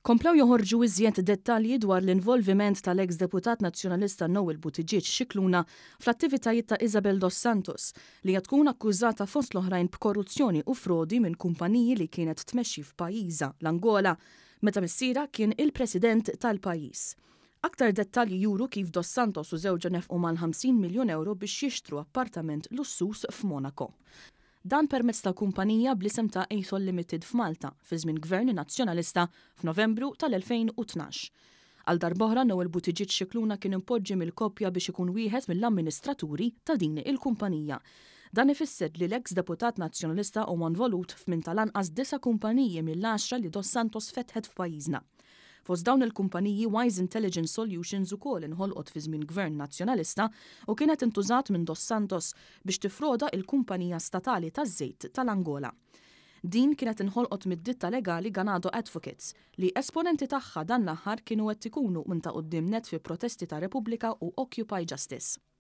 Komplew joħorġu iżjed dettalji dwar l-involviment tal-eks Deputat Nazzjonalista Noel Buttigieg Scicluna fl-attivitajiet ta' Isabel Dos Santos, li hija tkun akkużata fost l-oħrajn b'korruzzjoni u frodi minn kumpaniji li kienet tmexxi f'pajjiżha, l-Angola, meta missierha kien il-President tal-pajjiż. Aktar dettalji juru kif Dos Santos u żewġha nefqu mal-50 miljun ewro biex jixtru appartament lussuż f'Monaco. Dan permezz ta' kumpanija bl-isem ta' Athol Limited f'Malta, fi żmien Gvern Nazzjonalista, f'Novembru tal-2012. Għal darb'oħra Noel Buttigieg Scicluna kien impoġġi mill-koppja biex ikun wieħed mill-amministraturi ta' din il-kumpanija. Dan ifisser li l-eks Deputat Nazzjonalista huwa nvolut f'minn tal-anqas disa' kumpaniji mill-għaxra li Dos Santos fetħet f'pajjiżna. Fost dawn il-kumpaniji Wise Intelligence Solutions ukoll inħolqot fi żmien Gvern Nazzjonalista u kienet intużat minn Dos Santos biex tiffroda il-kumpanija statali taż-żejt tal-Angola. Din kienet inħolqot mid-ditta legali Ganado Advocates li esponenti tagħha dan l-aħħar kienu qed ikunu minn ta' quddiem nett fi protesti ta' Repubblika u Occupy Justice.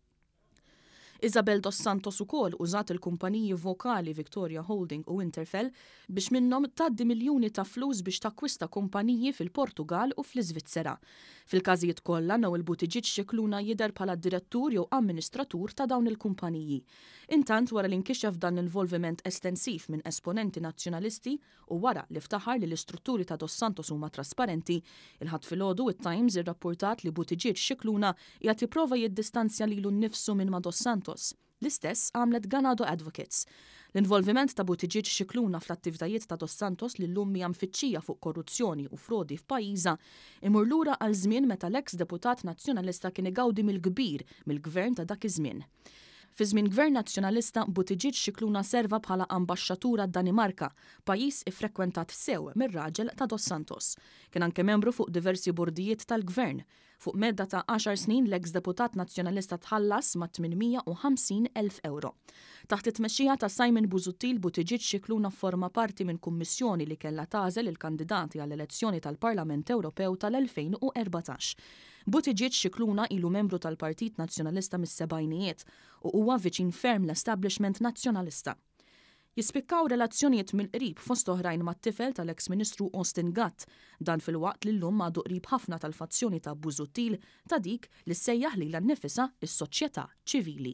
Isabel dos Santos ukoll użat il-kumpaniji vokali Victoria Holding u Interfel biex minnhom tgħaddi miljuni ta' flus biex takkwista kumpaniji fil-Portugall u fl-Iżvizzera. Fil-każijiet kollha, Noel Buttigieg Scicluna jidher bħala direttur jew amministratur ta' dawn il-kumpaniji. Intant, wara li nkixef dan l-involviment estensiv minn esponenti Nazzjonalisti, u wara li ftaħar li l-istrutturi ta' Dos Santos huma trasparenti, il-Ħadd filgħodu it-Times irrappurtat li Buttigieg Scicluna qiegħed jipprova jiddistanzja lilu nnifsu minn ma' Dos Santos. L-istess għamlet Ganado Advocates. L-involviment ta' Buttigieg Scicluna fl-attivtajiet ta' Dos Santos li llum hija mfittxija fuq korruzzjoni u frodi f'pajjiżha imur lura għal żmien meta l-eks Deputat Nazzjonalista kien igawdi mill-kbir mill-Gvern ta' dak iż-żmien. Fi żmien Gvern Nazzjonalista, Buttigieg Scicluna serva bħala ambaxxatur għad-Danimarka, pajjiż iffrekwentat sew mir-raġel ta' Dos Santos. Kien anke membru fuq diversi bordijiet tal-Gvern. Fuq medda ta' għaxar snin, l-eks Deputat Nazzjonalista tħallas ma' 850 elf ewro. Taħt it-tmexxija ta' Simon Busuttil, Buttigieg Scicluna fforma parti minn kummissjoni li kellha tagħżel il-kandidati għall-elezzjoni tal-Parlament Ewropew tal-2014. Buttigieg Scicluna ilu membru tal-Partit Nazzjonalista mis-sebgħinijiet u huwa viċin ferm l-establishment Nazzjonalista. Jispikkaw relazzjonijiet mill-qrib fost oħrajn mat-tifel tal-eks Ministru Austin Gatt, dan filwaqt li llum għadu qrib ħafna tal-fazzjoni ta' Busuttil ta' dik li ssejjaħ lilha nnifisha s-soċjetà ċivili.